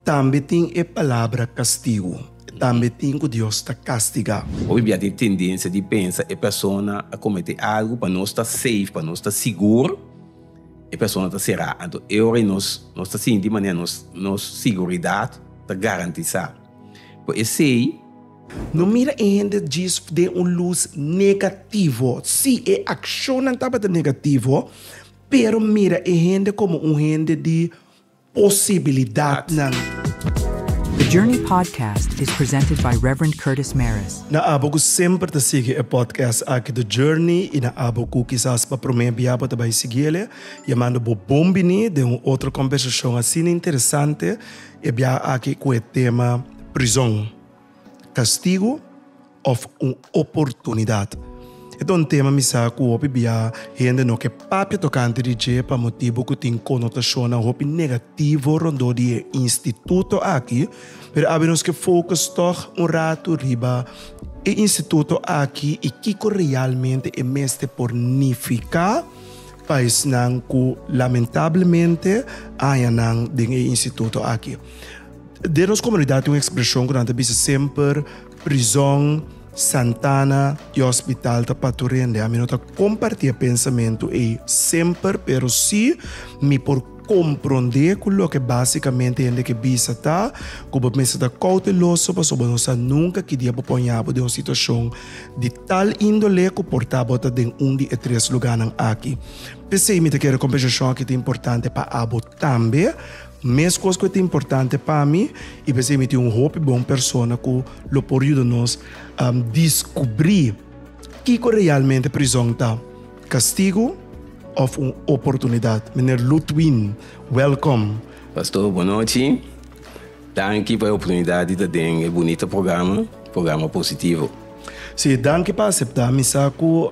Tambe tin e palabra kastigu. E tambe tin ku Dios ta kastigá. Hopi bia tin tendensia di pensa e persona a kometé algu pa nos ta safe, pa nos ta sigur, e persona ta será. Anto e ora ei nos nos ta sinti manera nos nos siguridat ta garantisá. Por esei. No mira e hende djis den un lus negativo. Sí, e akshonnan tabata negativo, pero mira e hende komo un hende di. posibilidadnan. The Journey Podcast is presented by Rev. Curtis Mares. Na abo ku semper ta sigui e podcast aki The Journey i na abo ku kisas pa promé bia bo ta bai sigui el, ya mando bo bon biní den un otro kombersashon asina interesante e bia aki ku e tema Prizon. kastigu òf un oportunidat. E ta un tema mi sa ku hopi bia hende no ke papia tokante di dje pa motibu ku tin konotashonnan hopi negativo rondó di e instituto aki, pero abi nos ke fokus tòg un ratu riba e instituto aki i kiko realmente e mester por nifiká pa esnan ku lamentablemente haña nan den e instituto aki. Den nos komunidat tin un ekspreshon ku nan ta bisa semper, Prizòn, Santana i hospital ta patu rende. Ami no ta kompartí e pensamentu ei semper, pero sí mi por komprondé ku loke básikamente hende ke bisa ta ku bo mester ta kouteloso pasobra bo no sa nunka ki dia bo por haña bo den un situashon di tal índole ku por ta bo ta den un di e tres lugánan aki. P'esei mi ta kere kompensashon aki ta importante pa abo tambe. Meskos ku e ta importante pa mi, i ta esei mi tin un hopi bon persona ku lo por yuda nos diskubrí kiko realmente prizòn ta, kastigu òf un oportunidat. Meneer Lutwin, wèlkom. Pastor, bonochi. Danki pa e oportunidat di ta den e bunita programa, programa Positivo. Sí, danki pa aseptá. Mi sa ku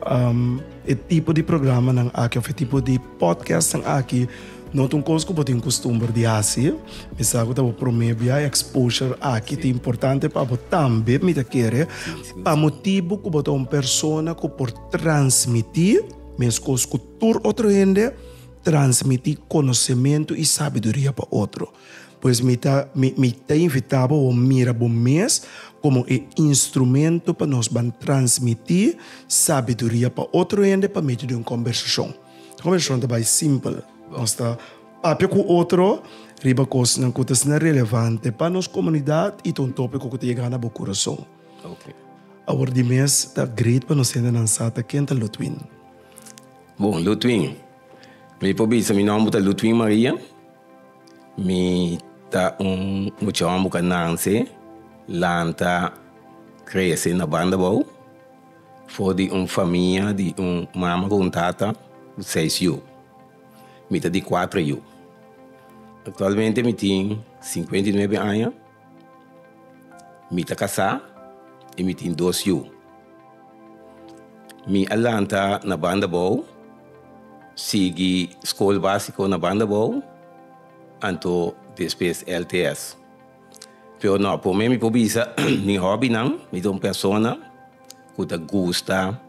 e tipo di programanan aki òf e tipo di. Podcastnan aki no ta un kos ku bo tin kustumber di hasi. Mi sa ku ta bo promé bia exposure aki. Ta importante pa bo tambe, mi ta kere, pa motibu ku bo ta un persona ku por transmití meskos ku tur otro hende, transmití konosementu i sabiduria pa otro. Pues mi ta mi mi ta invitá bo bo mira bo mes komo e instrumento pa nos ban transmití sabiduria pa otro hende pa medio di un kombersashon. E kombersashon ta bai simpel, nos ta papia ku otro riba kosnan ku ta asina relevante pa nos komunidat i ta un topiko ku ta yega na bo kurason. Awor di mes ta great pa nos hendenan sa ta ken ta Ludwin. Bon, Ludwin, mi por bisa mi nòmber ta Ludwin Maria. Mi ta un muchaon bo ka nanse, lanta, krese na Bandabou for di un famia di un mama ku un tata ku seis yu. Mi ta di kuater yu. Aktualmente mi tin singkuenta i nuebe aña. Mi ta casá y mi tin dos yu. Mi a lanta na banda bou, sigui school básico na banda bou, anto despues LTS. Pero no, por mi mi por bisa mi hobbynan, mi ta un persona cu ta gusta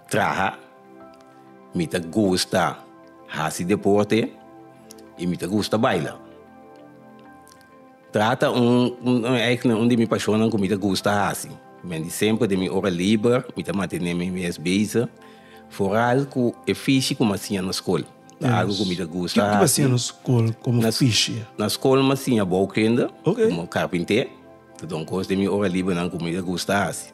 traha, mi ta gusta haci deporte y mi ta gusta baila. Trata un eigna un di mi pashonnan ku mi ta gusta hasi. Men di semper den mi ora liber mi ta mantené mi mes bezi foral ku e fishi ku mi a siña na skol. Ta algu ku mi ta gusta hasi. Ke ku mi a siña na skol komo fishi? Na skol mi a siña bouwkunda komo karpinté. Ta don kos den mi ora libernan ku mi ta gusta hasi.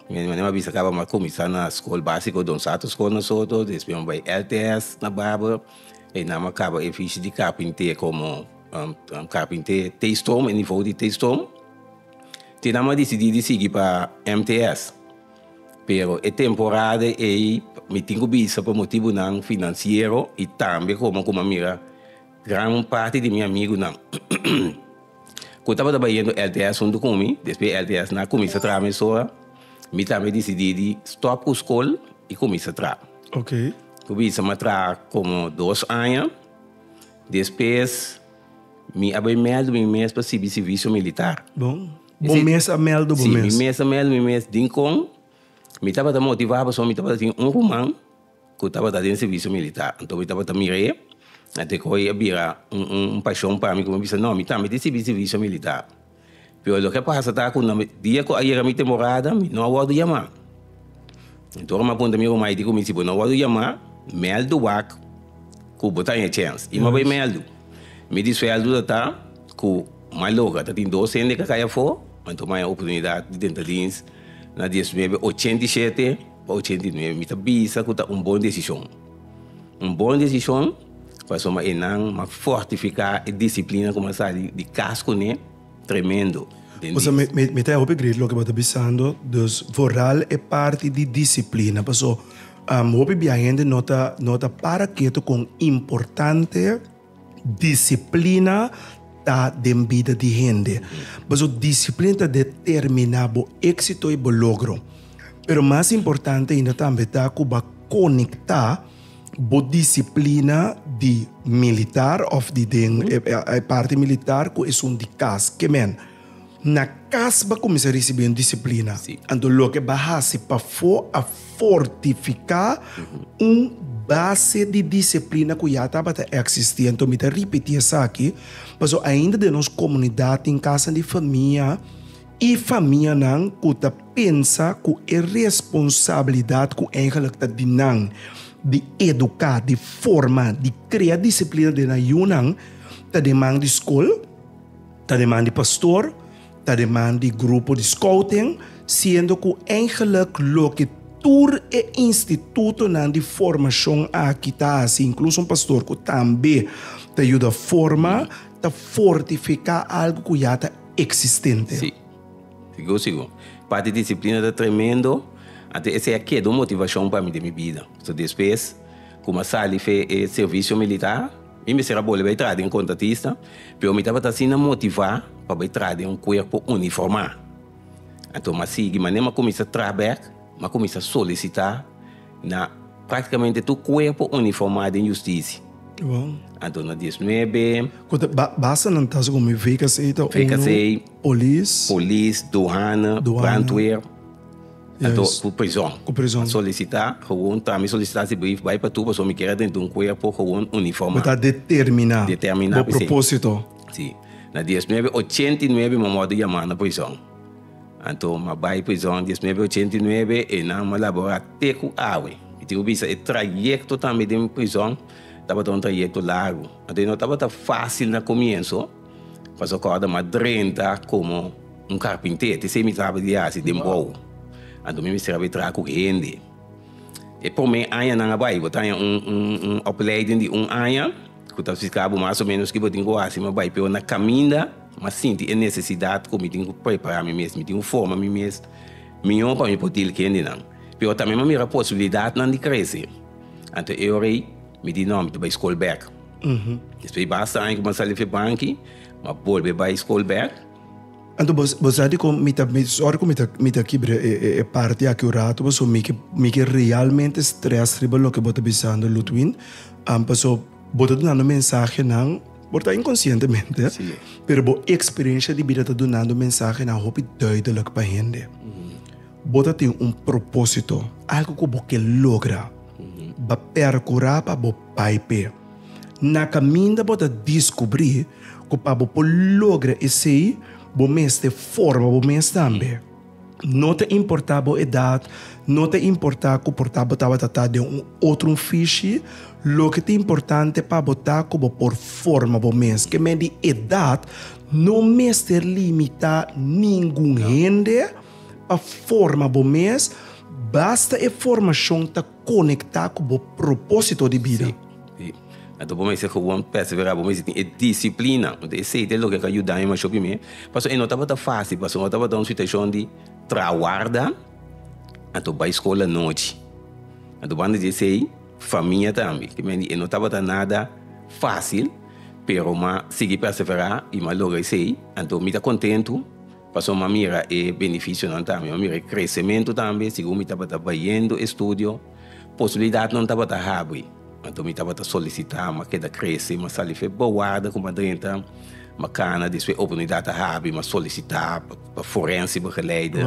Mi mané mi a bisa kaba mi a kuminsá na skol básiko Don Sato Skol na Soto, despues mi a bai LTS na Baber. Einan mi a kaba e fishi di karpinté komo. Kapin te Taystrom, e nivou di Taystrom. Tin nan m'a disidí di sigui pa MTS. Pero e temporada ei mi tin ku bisa pa motibunan finansiero i tambe komo ku m'a mira gran parti di mi amigunan ku tabata bayendo LTS huntu ku mi. Despues LTS na kuminsá traha mesora, mi tambe disidí di stòp ku skol i kuminsá traha. Ku bisa m'a traha komo dos aña. Despues mi a bai meldu mi mes pa sibi sivisio militar. Bon. Bo mes a meldu bo mes? Si, mi mes a meldu mi mes. Dikon mi tabata motivá pasobra mi tabata tin un ruman ku tabata den sivisio militar. Anto mi tabata mira e, ante ku e a bira un pashon pa mi ku mi bisa, no, mi tambe tin sibi sivisio militar. Pero loke a pasa ta ku na dia ku ayera mi te morada mi no a wòrdu yamá. Enton ora mi a punta mi ruman Heidi ku mi, si bo no a wòrdu yamá, mèldu wak ku bo ta haña chèns. I mi a bai mèldu. Mi di suèldo ta ta ku maloga ta tin dos hende ku a kai afó, ma enton mi a haña oportunidat di tenta dins na dies nuebe ochenta i shete pa ochenta i nuebe. Mi ta bisa ku ta un bon desishon. Un bon desishon. Pasobra e nan a fortifiká e disiplina ku a sa di kas kuné tremendo den di. Osea, mi ta hopi grid loke bo ta bisando, dus vooral e parti di disiplina. Paso, hopi bia hende no ta no ta para ketu kon importante disiplina ta den bida di hende. Paso disiplina ta determiná bo éksito i bo logro. Pero mas importante ainda tambe ta ku bo a konektá. Bo disiplina di militar of di den e parti militar ku esun di kas. Ke men? Na kas ba kuminsá risibí un disiplina. Anto loke ba hasi pafó a fortifiká un base di disiplina ku ya tabata eksistí. Anto mi ta ripití esaki pasobra ainda den nos komunidat tin kasanan di famia. E famianan ku ta pensa ku e responsabilidat ku eigelik ta di nan di eduká, di forma, di krea disiplina den nan yunan, ta den man di skol, ta den man di pastor, ta den man di grupo di skouting, siendo ku eigelik loke tur e institutonan di formashon aki ta hasi, inkluso un pastor ku tambe ta yuda forma, ta fortifiká algu ku ya ta. existente. Sí. Sigur, sigur. Parti disciplina ta tremendo. Anto esei a keda un motivacion pa mi den mi bida. So despues cu mi a sali fe e servicio militar, mi mester a boli bay traha den contratista, pero mi tabata asina motiva pa bay traha den un cuerpo uniforma. Anto mi a sigui, ma nen mi a cuminsa traha bek, mi a cuminsa solicita. Na práktikamente tur kuerpo uniformá den Justisi. Wow. Anto na dies nuebe. Ku ta ba, basenan ta segun mi VKC ta uno. VKC. Polis. Polis, Duhana, Duhana. Brandweer. Anto Juist. ku prison. Ku prison. A solisitá gewoon ta mi solisitasibrief bai pa tur pasobra mi kier a den un kuerpo gewoon uniformá. Mi ta determiná. Determiná, Bo presei. propósito. Sí. Na dies nuebe ochenta i nuebe mi a wòrdu yamá na prison. Anto ma bai prizon dies nuebe ochenta i nuebe e nan ma labora te ku awe. Mi tin ku bisa e trayekto tambe den prizon tabata un trayekto largu. Anto e no tabata fasil na komienso pasobra kòrda ma drenta komo un karpinter, ti esei mi traba di hasi den bou. Anto mi mester a bay traha ku hende. E promé añanan a bai bo ta haña un opleiding di un aña Cu ta splica bo mas o menos ki bo tin cu haci, ma bai peor na caminda, ma sinti e necesidad cu mi tin cu prepara mi mes, mi tin cu forma mi mes mihor pa mi por deal cu hendenan. Pero tambe mi a mira posibilidadnan di crece. Anto e ora ey mi di no, mi ta bai school back. Despues di basta aña cu mi a sali Febanki, mi a bolbe bai school back. Anto bo sa di kon mi ta mester, ora ku mi ta kibra e parti aki un ratu paso mi ke realmente strès riba loke bo ta bisando Ludwin, paso bo ta dunando mensahenan por ta inkonsientemente pero bo eksperensha di bida ta dunando mensahenan hopi duidelik pa hende. Bo ta tin un propósito, algu ku bo ke logra, ba perkurá pa bo Pai p'e. Na kaminda bo ta diskubrí ku pa bo por logra esei bo mester forma bo mes tambe. No ta importá bo edat, no ta importá ku por ta bo tabata ta den un otro un fishi, loke ta importante pa bo ta ku bo por forma bo mes. Ke men di edat no mester limitá ningun hende pa forma bo mes, basta e formashon ta. konektá ku bo propósito di bida. Sí, sí. Anto bo mester gewoon pèsevera, bo mester tin e disiplina. Huntu esei ta e loke ku a yuda mi masho primé. Pasobra e no tabata fásil, pasobra no tabata un situashon di trawarda, anto bai skol anochi. Anto banda di esei, famia tambe. Ke men di e no tabata nada fásil, pero m'a sigui pèseverá i m'a logra esei. Anto mi ta kontentu Pasobra mi a mira e benefisionan tambe, mi a mira e kresementu tambe, segun mi tabata bayendo e studio, posibilidatnan tabata habri. Anto mi tabata solisitá mas keda krese, mas sali fe bawarda ku mas drenta, mas kana, despues e oportunidat a habri, mi a solisitá pa forense begeleide,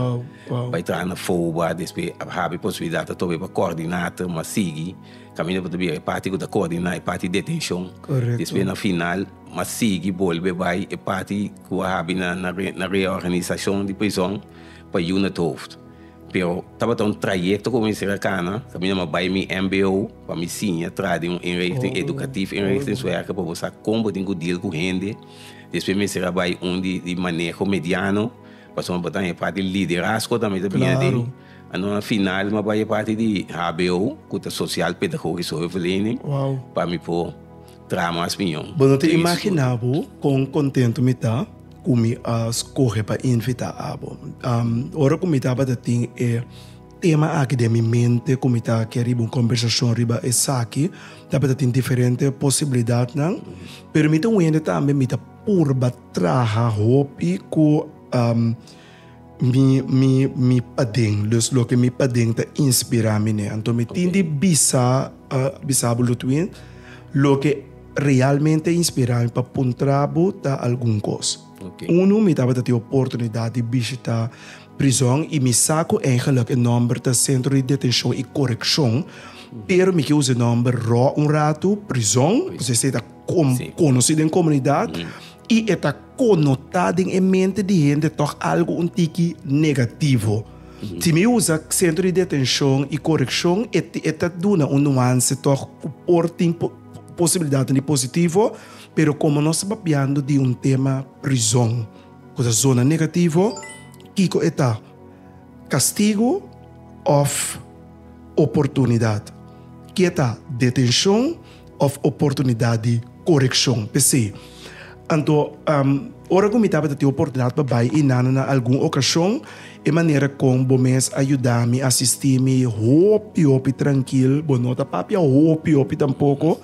bai traha na FOBA, despues a habri posibilidat ato e pa kòrdinator, mi a sigui. Camino por ta bira e parti cu ta coordina e parti detencion. Correcto. Despues na final mi a sigui bolbe bay e parti cu a habi na na reorganisacion di prison pa yu na Tohoofd. Pero tabata un trayecto cu mi mester a cana, caminda mi a bay mi mbo pa mi siña tras di un inrichting educatief, inrichting suerca pa bo sa con bo tin cu deal cu hende. Despues mi mester a bay un di maneho mediano, pasobra mi a bota na e parti liderazgo tambe ta bira den. Ano a final ma bay e parti di hbo cu ta social pedagogisch hulpverlening pa mi por traha mas piñon. Bo no ta imagina bo con contento mi ta cu mi a scoge pa invita abo. Ora cu mi tabata tin e tema aki den mi mente cu mi ta ker riba un conversacion riba esaki tabata tin diferente posibilidadnan pero mi ta wende tambe mi ta purba traha hopi cu. Mi mi mi paden, dus loke mi paden ta inspirá mi ne. Anto mi tin di bisa bisa bo Ludwin loke realmente a inspirá mi pa puntra bo ta algun kos. Unu mi tabata tin e oportunidat di bishitá prizòn i mi sa ku eingelik e nòmber ta Sentro di Detenshon i Korekshon pero mi ke usa e nòmber rò un ratu prizòn pasobra esei ta konosí den komunidat. I e ta konotá den e mente di hende tòg algu un tiki negativo. Si mi usa Sentro di Detenshon i Korekshon, e e ta duna un nuanse tòg ku por tin posibilidatnan di positivo, pero komo nos ta papiando di un tema prizòn, ku ta zona negativo, kiko e ta? Kastigu òf oportunidat? Ke ta detenshon? òf oportunidat di korekshon. P'esei, anto ora ku mi tabata tin oportunidat pa bai Inana na algun okashon, e manera kon bo mes a yuda mi, a asistí mi hopi, hopi trankil. Bo no ta papia hopi, hopi tampoko,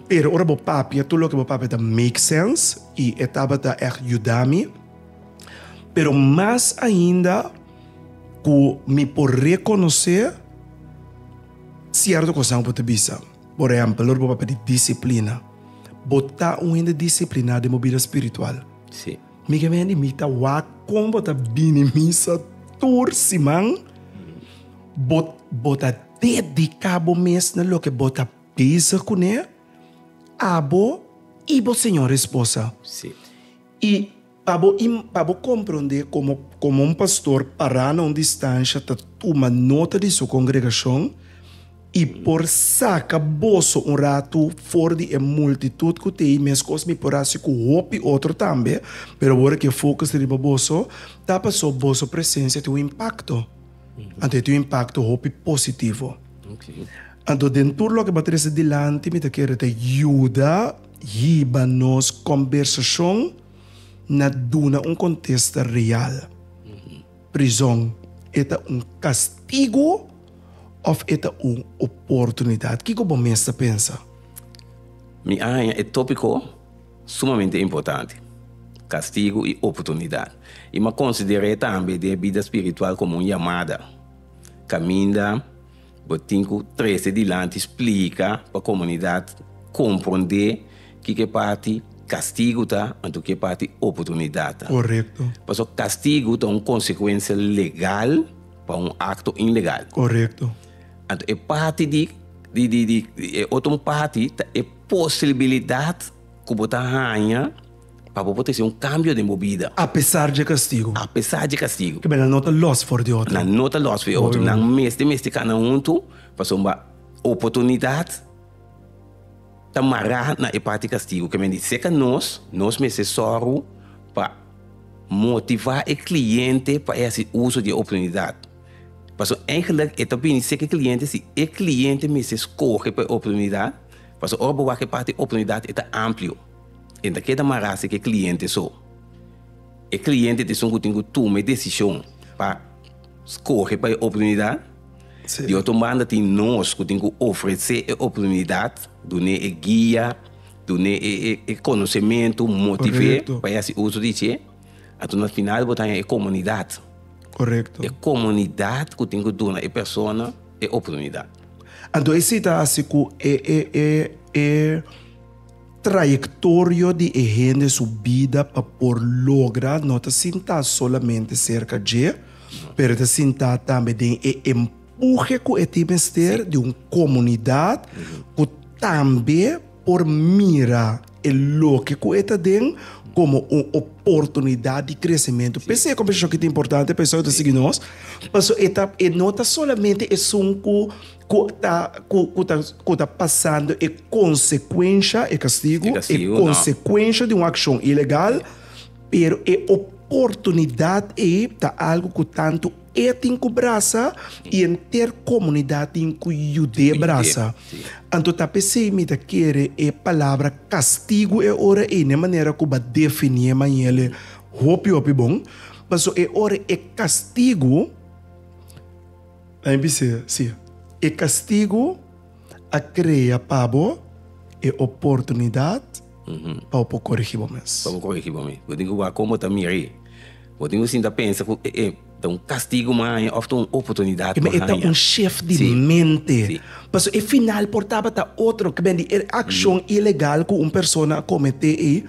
pero ora bo papia, tur loke bo papia ta make sense, i e tabata ègt yuda mi. Pero mas ainda ku mi por rekonosé sierto kosnan ku bo ta bisa. Por ehèmpel, ora bo ta pidi disiplina, bo ta un hende disipliná den bo bida spiritual? Sí. Mi ke un hende mi ta wak kon bo ta bini misa tur siman. Bo, bo ta dediká bo mes na loke bo ta bezig kuné, abo i bo señor esposa. Sí. I. Pa bo pa bo komprondé komo komo un pastor pará na un distansha ta tuma nota di su kongregashon i por saka boso un ratu for di e multitut ku ta ei, meskos mi por hasi ku hopi otro tambe, pero ora ku e fokus ta riba boso, ta pasobra boso presensia tin un impakto. Anto e tin un impakto hopi positivo. Anto den tur loke mi ta trese dilanti mi ta kere ta yuda. Hiba nos kombersashon na duna un kontesta real. Prizon, e ta un kastigu òf e ta un oportunidat? Kiko bo mes ta pensa? Mi a haña e tópiko sumamente importante, kastigu i oportunidat. I mi a konsider'é tambe di e bida spiritual komo un yamada kaminda. Bo tin cu trece dilanti splica pa comunidad comprende kiko parti castigo ta, anto ki e parti oportunidad ta. Correcto. Pasobra castigo ta un consecuencia legal pa un acto ilegal. Correcto. Anto e parti di di di di e otro parti ta e posibilidad cu bo ta haña. Pa bo por trese un kambio den bo bida. Apesar dje kastigu. Apesar dje kastigu. Ke bena no ta lòs for di otro. Nan no ta lòs for di otro. Nan mester mester kana huntu pasobra oportunidat ta mará na e parti kastigu. Ke men di seka nos, nos mester sòru pa motivá e kliente pa e hasi uso di e oportunidat. Paso eigenlik e ta bini sek e kliente si e kliente mester skohe pa e oportunidat. Paso ora bo wak e parti oportunidat e ta amplio. e ta keda mará si ku e kliente so. E kliente ta esun ku tin ku tuma e desishon pa skohe pa e oportunidat. Di otro banda tin nos ku tin ku ofresé e oportunidat, dun'é e guia, dun'é e konosementu, motiv'é pa e hasi uso di dje. Anto na final bo ta haña e komunidat. E komunidat ku tin ku duna e persona e oportunidat. Anto esei ta hasi ku e. Trayectorio di e hende su bida pa por logra no ta sintá solamente serka dje, pero e ta sintá tambe den e empuje ku e tin mester di un komunidat ku tambe por mira e loke ku e ta den komo un oportunidat di kresementu. P'esei e kompersashon ki ta importante, p'esei yu ta sigui nos, paso e ta e no ta solamente esun ku. Cu ta cu ta cu ta pasando e consecuencia, e castigo, e consecuencia di un accion ilegal, pero e oportunidad ei ta algo cu tanto e tin cu brasa y enter comunidad tin cu yud'é brasa. Anto ta pesey mi ta kere e palabra castigo e ora ei n'e manera cu b'a definié mañele hopi hopi bon, paso e ora e castigo. Bai bis'é, Sí, e kastigu a krea pa bo e oportunidat pa bo por korigí bo mes. Pa bo korigí bo mes. Bo tin ku wak kon bo ta mir'é. Bo tin ku sinta pensa ku e e ta un kastigu bo a haña òf ta un oportunidat bo a haña. Kibè e ta un shèf di mente. Pasobra e final por tabata otro. Kibè di e akshon ilegal ku un persona a kometé ei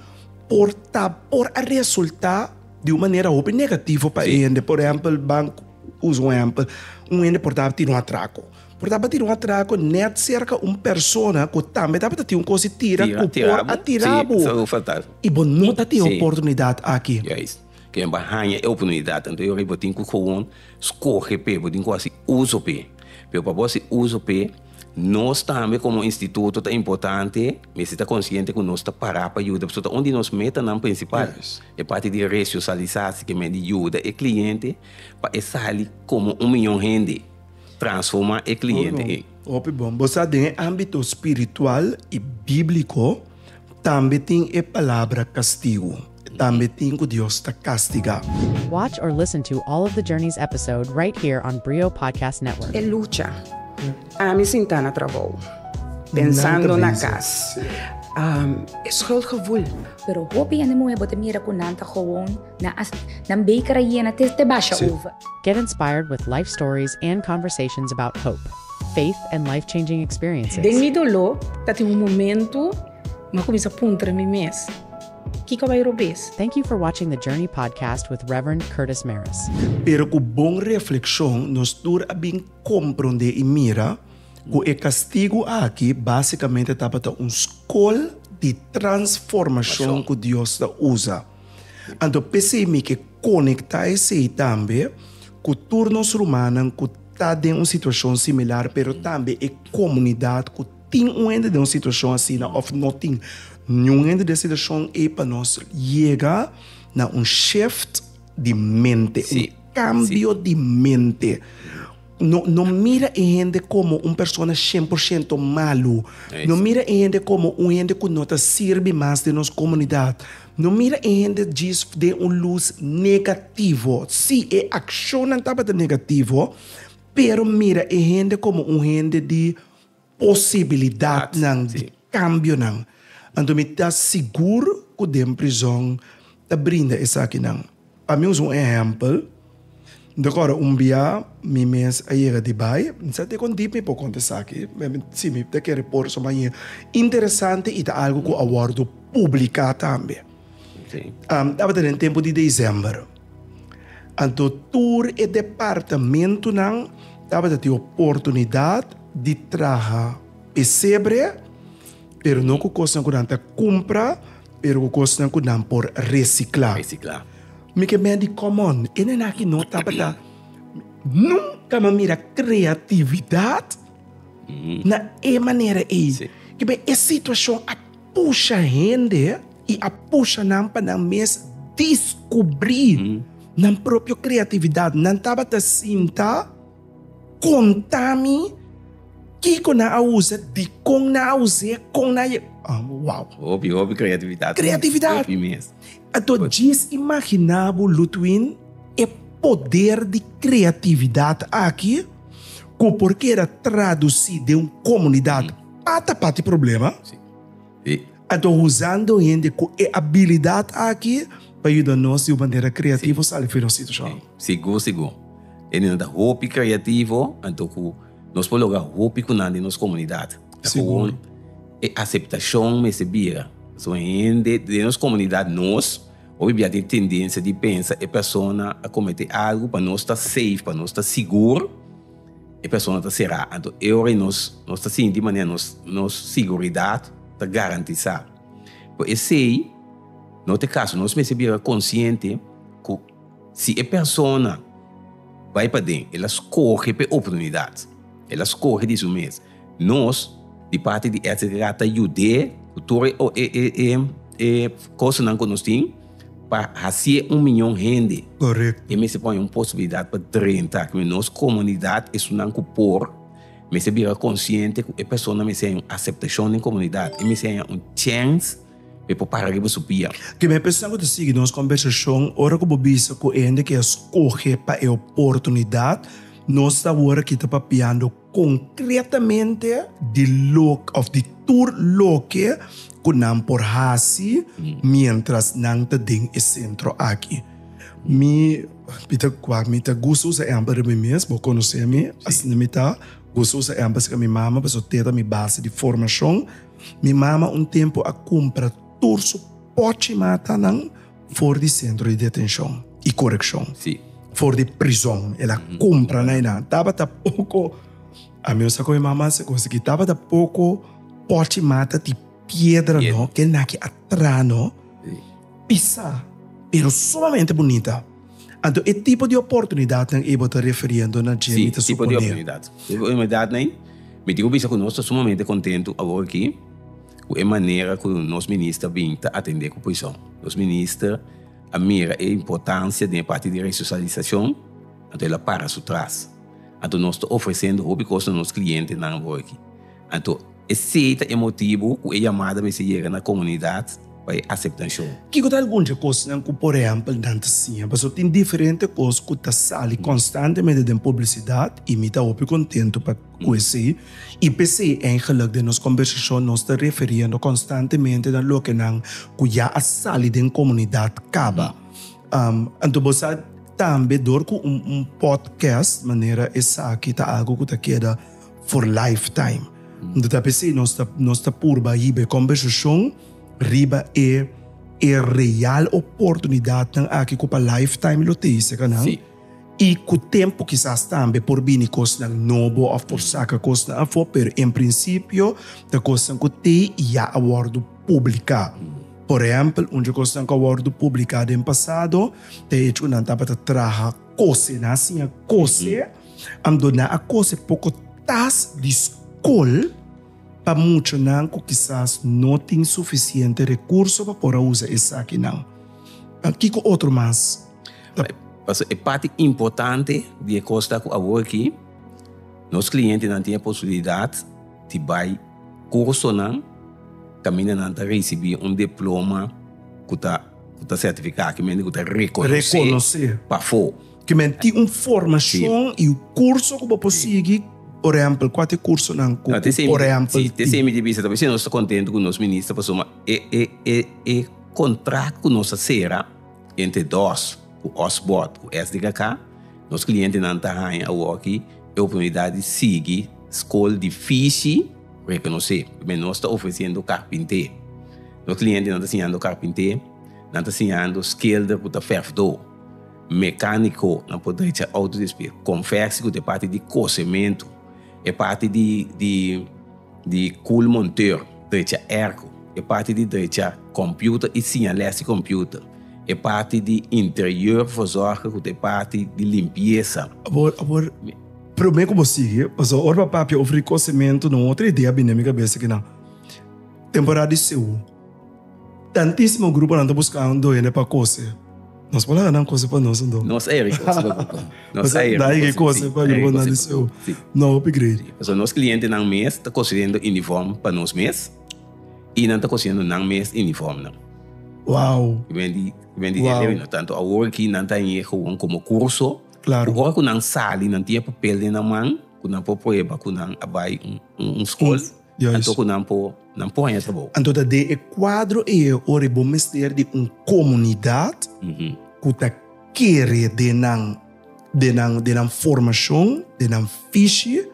por ta por a resultá di un manera hopi negativo pa e hende. Por ehèmpel, bank. Usa un ehèmpel, un hende por tabata tira un atrako. Por tabata tira un atrako nèt serka un persona ku tambe tabata tin un kos di tira ku por a tira bo. I bo no ta tin e oportunidat aki. Juis. Ken bo a haña e oportunidat an? Bo tin ku gewoon skohe p'e, bo tin ku hasi uso p'e. Pero pa bo hasi uso p'e. Nos tambe komo instituto ta importante, mester ta konsiente ku nos ta pará pa yuda, pasobra ta un di nos metanan prinsipal. E parti di resosialisasi ke men di yuda e kliente pa e sali komo un mion hende, transformá e kliente ei. Hopi bon. Bo sa den e ámbito spiritual i bíbliko tambe tin e palabra kastigu. Tambe tin cu Dios ta castiga. Watch or listen to all of the Journeys episode right here on Brio Podcast Network. E lucha. Ami sintá na trabou. Pensando na cas. E schuldgevoel. Pero hopi hende muhé bo ta mira cu nan ta gewoon, nan a nan beker a yena te te basha over. Get inspired with life stories and conversations about hope, faith and life-changing experiences. Den mi doló ta tin un momento ma cuminsa puntra mi mes. Kiko bay robes? Thank you for watching the Journey Podcast with Rev. Curtis Maris. Pero ku bon reflekshon nos tur a bin komprondé i mira ku e kastigu akí básikamente tabata un skol di transformashon ku Dios ta usa. Anto p'esei mi ke konektá esei tambe ku tur nos rumannan ku ta den un situashon similar pero tambe e komunidat ku Tin un hende den un situashon asina òf no tin niun hende den situashon ei pa nos yega na un shèft di mente, un kambio di mente. No no mira e hende komo un persona shen por shento malu. No mira e hende komo un hende ku no ta sirbi mas den nos komunidat. No mira e hende djis den un lus negativo. Sí, e akshonnan tabata negativo, pero mira e hende komo un hende di. posibilidatnan di kambionan, anto mi ta sigur ku den prizòn ta brinda esakinan. Pa mi usa un ehèmpel, mi ta kòrda un bia mi mes a yega di bai, mi sa te kon dip mi por konta esaki, si mi ta kere por, suma i interesante i ta algu ku a wòrdu publiká tambe. Tabata den tempu di December, anto tur e departamentunan tabata tin oportunidat di traha pesebre, pero no ku kosnan ku nan ta kumpra, pero ku kosnan ku nan por resiklá. Mi ke mei di kòmon, e nena aki no tabata, nunka mi a mira kreatividat na e manera ei. Kiba e situashon a. pusha hende i a pusha nan pa nan mes diskubrí nan propio kreatividat. Nan tabata sinta konta mi kiko nan a usa, dikon nan a us'é, kon nan a ye. Wou! Hopi, hopi kreatividat. Kreatividat! Hopi mes. Anto djis imaginá bo, Ludwin, e poder di kreatividat aki ku por keda tradusí den un komunidat. Pata pati problema. Sí. Sí. Anto usando hende cu e habilidad aki pa yuda nos di un manera creativo sí. sali fuera un situacion. Sí. Sigur, sigur. E niño ta hopi creativo, anto cu nos por logra hopi cu nan di nos comunidad. Ta sigur. E aceptacion mester bira. So hende den nos comunidad nos, hopi bia tin tendencia di pensa e persona a comete algo pa nos ta safe, pa nos ta sigur. e persona ta será. Anto e ora ei nos nos ta sinti manera nos nos siguridat ta garantisá. Por esei no te kaso nos mester bira konsiente ku si e persona bai paden el a skohe pa e oportunidat, el a skohe di su mes, nos di parti di SDA ta yud'é ku tur e kosanan ku nos tin. pa hacié un miñon hende. Korekto. E mester pone un posibilidat pa drenta aki, mi nos komunidat esunnan ku por mester bira konsiente ku e persona mester haña un aseptashon den komunidat, e mester haña un chèns pa e por para riba su pia. Ke mester persona ku ta sigui nos kombersashon, ora ku bo bisa ku e hende ke a skohe pa e oportunidat, nos ta wòrdu kita papiando. Konkretamente di loke òf di tur loke ku nan por hasi miéntras nan ta den e sentro aki. Mi mi ta kua mi ta gusta usa ehèmpel riba mi mes, bo konosé mi, asina mi ta. Gusta usa ehèmpel aserka mi mama pasobra tei ta mi base di formashon. Mi mama un tempu a kumpra tur su pòchi matanan For di sentro di detenshon i korekshon. Sí. For di prizon. El a kumpra na einan. Tabata poko, a mi osa ku mi mama a kos aki, tabata poko pòchi mata di piedra no, ke naki atra no, pisa, pero sumamente bunita. Anto e tipo di oportunidatnan ei bo ta referiendo na dje mi ta suponé. Sí, tipo di oportunidatnan. Mi tin ku bisa ku nos ta sumamente kontentu awor aki. ku e manera ku nos minister bin ta atendé ku prison. Nos minister a mira e importansia den e parti di resosalisiashon, anto el a para su tras. Anto nos ta ofresendo hopi kos na nos klientenan awor-aki. Anto esei ta e motibu ku e yamada mester yega na komunidat pa e aseptashon. Kiko ta algun di e kosnan ku por ehèmpel nan ta siña? Pasua tin diferente kos ku ta sali konstantemente den publisidat i mi ta hopi kontentu pa. Cu esey, y p'esey eigenlijk den nos combersacion nos ta referiendo constantemente na loke nan cu ya a sali den comunidad caba. Anto bo sa tambe door cu un podcast manera esaki ta algo cu ta keda for lifetime. Anto ta p'esey nos ta nos ta purba hiba e combersacion riba e e real oportunidadnan aki cu pa lifetime lo teyse ca nan. I ku tempu kisas tambe por bini kosnan nobo òf por saka kosnan afó, pero en prinsipio ta kosnan ku te i ya a wòrdu publiká. Por ehèmpel, un di kosnan ku a wòrdu publiká den pasado ta e hecho ku nan tabata traha kose, nan a siña kose, anto nan a kose poko tas di skol pa muchanan ku kisas no tin sufisiente rekurso pa por a usa esakinan. Kiko otro mas? Paso e parti importante di e cos ta cu awor aki, nos clientenan tin e posibilidad di bay cursonan caminda nan ta ricibi un diploma cu ta certifica, cu men di cu ta reconoce pafo. Cu men tin un formacion y un curso cu bo por sigui, por ehempel, cua ta e cursonan cu por ehempel. Si, te semi di bisa ta bay. Nos ta contento cu nos minister pasobra e contract cu nos a cera. Entre dos cu os bot cu es di kaká, nos clientenan ta haña awoki e oportunidad di sigui scol difici reconocé. Primer nos ta ofreciendo carpinté. Nos clientenan ta siñando carpinté, nan ta siñando schilder cu ta verfdó, mecanico, nan por drecha auto despues, confectie cu ta e parti di cosemento, e parti di. Di Cool Montero, drecha Erco, e parti di drecha Computer y Signales y Computer, e parti di Interior, Voorzorgen cu ta e parti di Limpieza. Awor, awor, prome cu bo sigui, pasobra ora bo a papia over e cosementu nan otro idea a bini na mi cabeza, kinan, temporada di sehu. Tantismo gruponan ta buscá un duende pa cose. Nos por laga nan cose pa nos, no? Nos ei rico, nos grupo. Nos ei rico. Dai cose pa gruponan di seu. No hopi grei. So nos clientenan mes ta cosiendo uniform pa nos mes y nan ta cosiendo nan mes uniformnan. Wow. Cu wen di, cu wen di wow. delevi, no tanto awor aki nan ta heye gewoon como curso. Claro. Cu ora cu nan sali, nan tin e papel den nan man cu nan por prueba cu nan a bai un, un, un school. Yes. Anto ku nan por nan por haña trabou. Anto ta den e kuadro ei ora i bo mester di un komunidat ku ta kere den nan den nan den nan formashon, den nan fishi,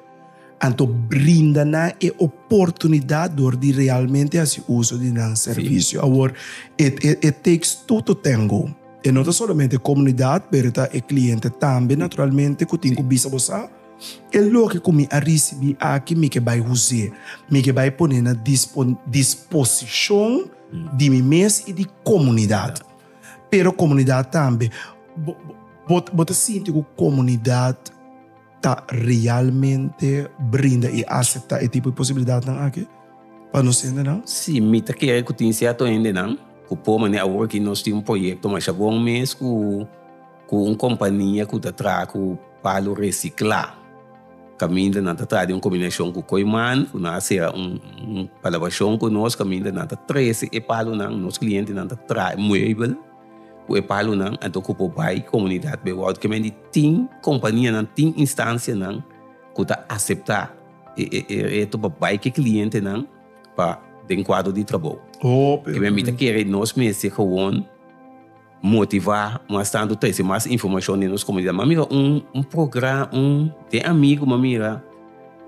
anto brinda nan e oportunidat dor di realmente hasi uso di nan servisio. Awor e e e takes two to tango, e no ta solamente e komunidat pero ta e kliente tambe naturalmente ku tin ku bisa bo sa. E loke ku mi a risibí aki, mi ke bai us'é. Mi ke bai pon'é na disposishon di mi mes i di komunidat. Pero komunidat tambe, bo ta sinti ku komunidat ta realmente brinda i aseptá e tipo di posibilidatnan aki pa nos hendenan? Sí, mi ta kere ku tin sierto hendenan ku por manera awor aki nos tin un proyekto Masha Bon mes ku. ku un kompania ku ta traha ku palu resiklá. Kaminda nan ta traha den un kombinashon ku Koiman, ku nan a sera un kolaborashon ku nos, kaminda nan ta trese e palunan, nos klientenan ta traha e muebel ku e palunan. Anto ku por bai komunidat Bewoud ke men di tin kompanianan, tin instansianan ku ta aseptá e reto pa bai ku e klientenan pa den kuadro di trabou. Ke men mita kere nos mester, gewon, Motivá, mas tantu trese mas informashon den nos komunidat. M'a mira un un progra un den amigu m'a mira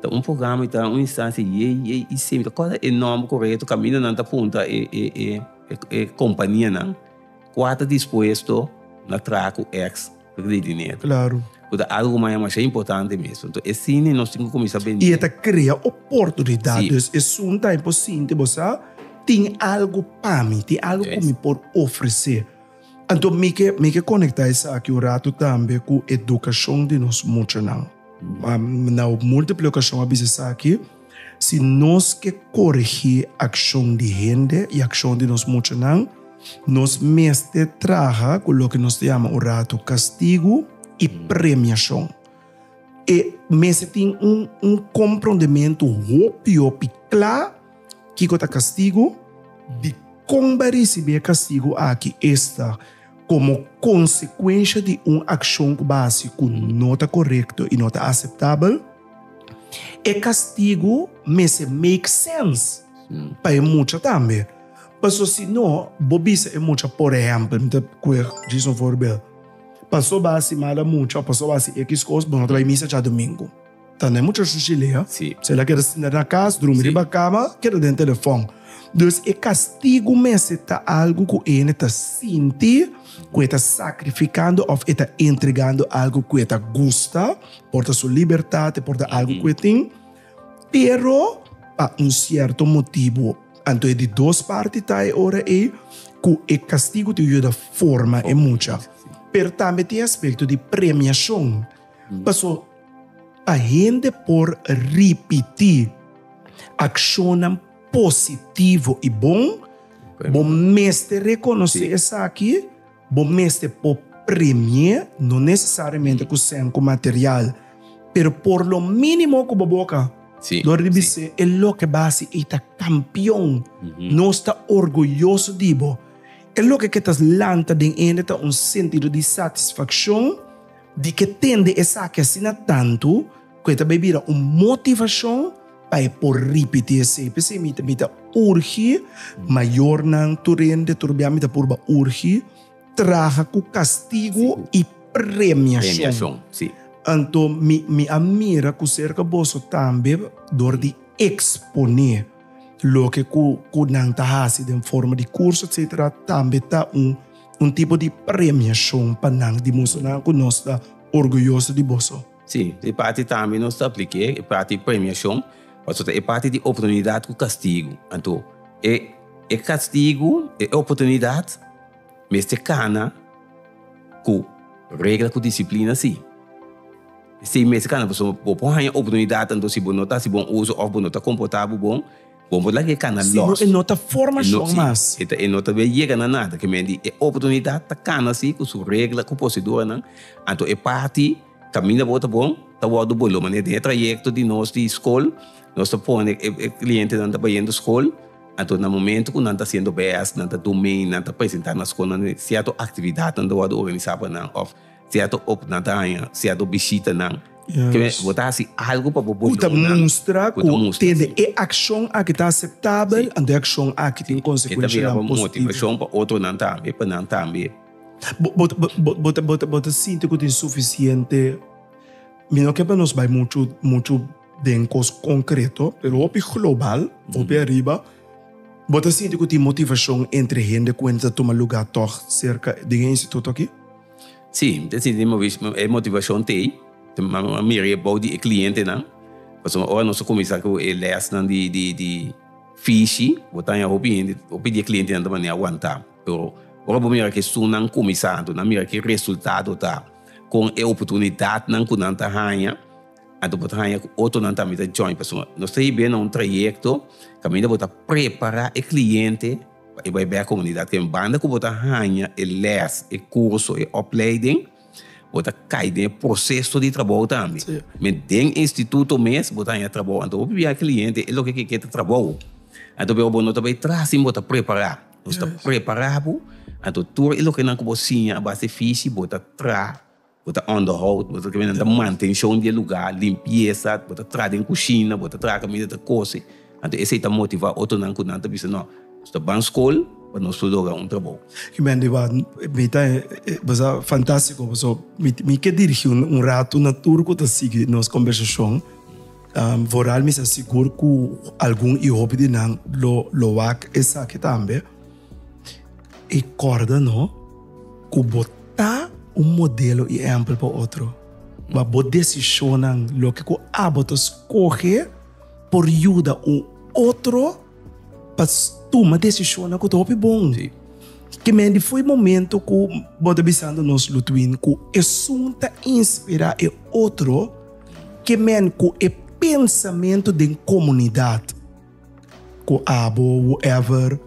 ta un programa i ta un instansia ye ye i semi ta kòrda e nòmber korekto kaminda nan ta punta e e e e kompanianan kua ta dispuesto na traha ku X. Porque ta e diner. Claro. Cu ta algo cu maya masha importante mesmo. Entonces e cine nos tin cu cuminsa bende. Y e ta crea oportunidad. Si. Dus esun ta e por sinti bo sa tin algo pa mi, tin algo cu mi por ofrece. Anto mi ke mi ke conecta esaki un rato tambe cu educacion di nos muchanan. Na multiple ocasion a bisa esaki. Si nos ke korigí akshon di hende i akshon di nos muchanan, nos mester traha ku loke nos ta yama un ratu kastigu i premiashon. E mester tin un un komprondementu hopi hopi kla kiko ta kastigu, dikon bo a risibí e kastigu aki, esta komo konsekuensha di un akshon ku bo a hasi ku no ta korekto i no ta aseptabel, E kastigu mester make sense pa e mucha tambe. Paso si no bo bisa e mucha por ehèmpel, mi ta kuer djis un forbel, paso bo a sima la mucha o paso bo a hasi ekis kos bo no ta bai misa djadumingu. Tanda e mucha shushi lei a. Si. Si el a keda sinta na kas, drumi riba kama, keda den telefòn. Dus e kastigu mester ta algu ku e hende ta sinti ku e ta sakrifikando òf e ta entregando algu ku e ta gusta. Por ta su libertat, e por ta algu ku e tin, pero pa un sierto motibu. Anto e di dos parti ta e ora ei ku e kastigu tin ku yuda forma e mucha. Pero tambe tin e aspekto di premiashon. Paso, pa hende por ripití akshonnan positivo i bon, bo mester rekonosé esaki. Bo mester por premie, no nesesariamente ku sèn ku material, pero por lo mínimo ku bo boka lo ribi se e loke basi ei ta kampion. Nos ta orguyoso di bo. E loke ke ta lanta den hende ta un sentido di satisfakshon di ke tende esaki asina tantu. ku e ta bai bira un motivashon pa e por ripití esei. P'esei mi ta mi ta urgi mayornan tur hende tur biaha mi ta purba urgi traha ku kastigu i premiashon. Anto mi mi a mira ku serka boso tambe dor di eksponé loke ku ku nan ta hasi den forma di kurso etsetera tambe ta un un tipo di premiashon pa nan di mustra nan ku nos ta orguyoso di boso. Sí, e parti tambe nos ta apliké, e parti di premiashon, paso ta e parti di oportunidat ku kastigu. Anto, e, e kastigu, e oportunidat, mester kana ku regla ku disiplina sí. Sí, mester kana, paso bo por haña oportunidat, anto si bo no ta hasi bon uso òf bo no ta komportá bo bon, Bo por laga e kana los. Sino e no ta formacion mas. Si, e no ta be yega na nada. Ke men di, e oportunidad ta kana si cu su regla, cu proceduanan. Anto e parti caminda bo ta bon, ta wordo bo lo. Manera den e trayecto di nos di scol, nos ta pone e clientenan ta bayendo scol. Anto na momento cu nan ta haciendo bes, nan ta dome, nan ta presenta na scol, nan cierto actividadnan ta wordo organisa pa nan of. Cierto hopi nan ta haña cierto bishitanan. Yes. Bo ta hasi algo pa bo Cu ta boyonan. mustra Cu ta cu mustra, tende sí. e accion aki ta aceptabel, Sí. anto e accion aki tin E ta consecuencianan bira bo positivo. motivacion pa otronan tambe, pa nan tambe. Bo bo bo bo bo ta bo ta bo ta sinti cu tin suficiente, mi no ke pa nos bay mucho mucho den cos concreto, pero hopi global, hopi ariba, bo ta sinti cu tin motivacion entre hende cu hende ta tuma lugar tog cerca den e instituto aki? Sí, mi ta sinti e motivacion ta ei, a mira e bou di e clientenan, pasobra ora nos a cuminsa cu e lesnan di di di fishi, bo ta haña hopi hende, hopi di e clientenan ta mania aguanta, pero ora bo mira cu esunnan cuminsa anto nan mira ki resultado ta con e oportunidadnan cu nan ta haña, anto bo ta haña cu otronan tambe ta join, pasobra nos ta hib'e na un trayecto caminda bo ta prepara e cliente. Pa e bai bek komunidat ken banda ku bo ta haña e lès, e kurso, e opleiding, bo ta kai den e proseso di trabou tambe. Mi den instituto mes bo ta haña trabou. Anto bo pibia e kliente e loke ke ke ta trabou. Anto biba bo no ta bai tras sin bo ta prepará. Bo sta prepará bo, anto tur e lokenan ku bo siña a base fishi bo ta traha. Bo ta onderhou, bo ta kende ta mantenshon di e lugá, limpiesa, bo ta traha den kushina, bo ta traha kaminda e ta kose. Anto esei ta motivá otronan ku nan ta bisa, No, nos ta ban skol pa nos por logra un trabou. I men di bo, Mi ta e basa fantástiko, pasobra mi ke dirigí un ratu na tur ku ta sigui nos kombersashon. Vooral mi sa sigur ku algun i hopi di nan lo wak esaki tambe. I kòrda no ku bo ta un modelo i ehèmpel pa otro. Ma bo desishonnan, loke ku abo ta skohe, por yuda un otro pa tuma desishonnan ku ta hopi bon. Ke men di foi momento ku bo ta bisando nos Lutwin ku esun ta inspirá e otro ke men ku e pensamentu den komunidat. Ku abo, whoever,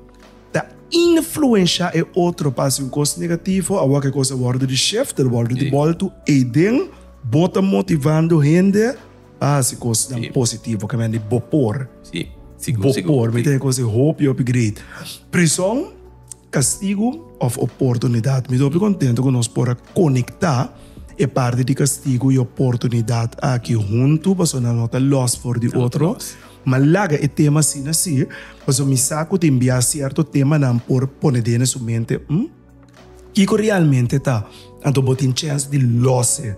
ta influensha e otro pa hasi un kos negativo, awo ke kos a wòrdu di shift, a wòrdu di bòltu eden, bo ta motivando hende pa hasi kosnan positivo, ke men di bo por, bo por, mi ta den e kos ei hopi, hopi great. Prison, kastigu òf oportunidat? Mi ta hopi kontentu ku nos por a konektá e parti di kastigu i oportunidat aki huntu, pasobra nan no ta lòs for di otro. M'a laga e tema asina si, paso mi sa cu tin bia cierto temanan por pone dene su mente, hm? Kico realmente ta? Anto bo tin chens di lose.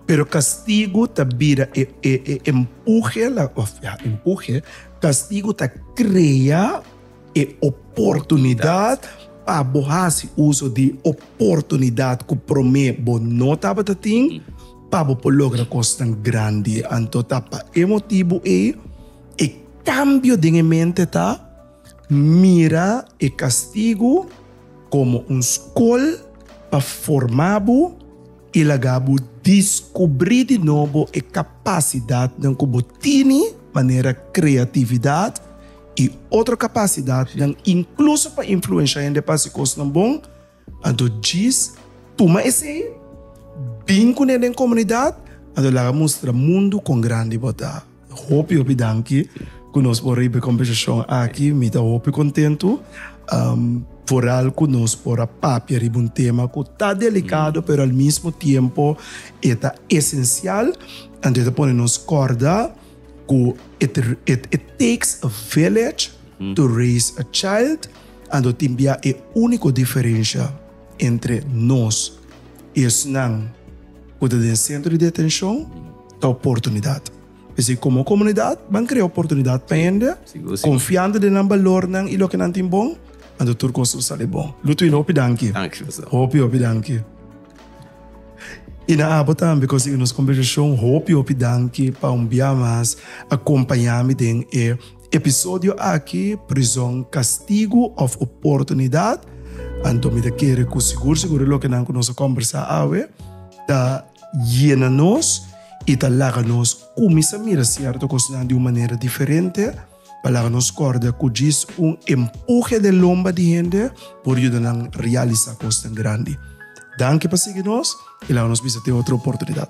Pero castigo ta bira e e e empuje la, of ya, empuje, castigo ta crea E oportunidat pa bo hasi uso di oportunidat ku promé bo no tabata tin pa bo por logra kosnan grandi. Anto ta pa e motibu ei e kambio den e mente ta mira e kastigu komo un skol pa forma bo i laga bo diskubrí di nobo e kapasidatnan ku bo tini, manera kreatividat, i otro kapasidatnan inkluso pa influenshá hende pa hasi kosnan bon, anto djis tuma esei, bin ku nan den komunidat, anto laga mustra mundu kon grandi bo ta. Hopi hopi danki ku nos por riba e kombersashon aki, mi ta hopi kontentu, foral ku nos por a papia riba un tema ku ta delikado pero al mismo tiempo e ta esensial, anto e ta pone nos kòrda. Ku it it takes a village to raise a child ando tin bia e úniko diferensha entre nos i esnan ku ta den sentro di detenshon ta oportunidat. P'esei komo komunidat ban krea oportunidat pa hende konfiando den nan balornan i loke nan tin bon ando tur kos lo sali bon. Lutwin hopi danki. Danki José. Hopi hopi danki. I na abo tambe ku siña nos kombersashon. Hopi hopi danki pa un bia mas a kompañá mi den e episodio aki, Prizòn, Kastigu òf Oportunidat? Anto mi ta kere ku sigur sigur e lokenan ku nos a kombersá awe ta yena nos i ta laga nos kuminsá mira sierto kosnan di un manera diferente. Pa laga nos kòrda ku djis un empuje den lomba di hende por yuda nan realisá kosnan grandi. Danki pa sigui nos i laga nos bisa te otro oportunidat.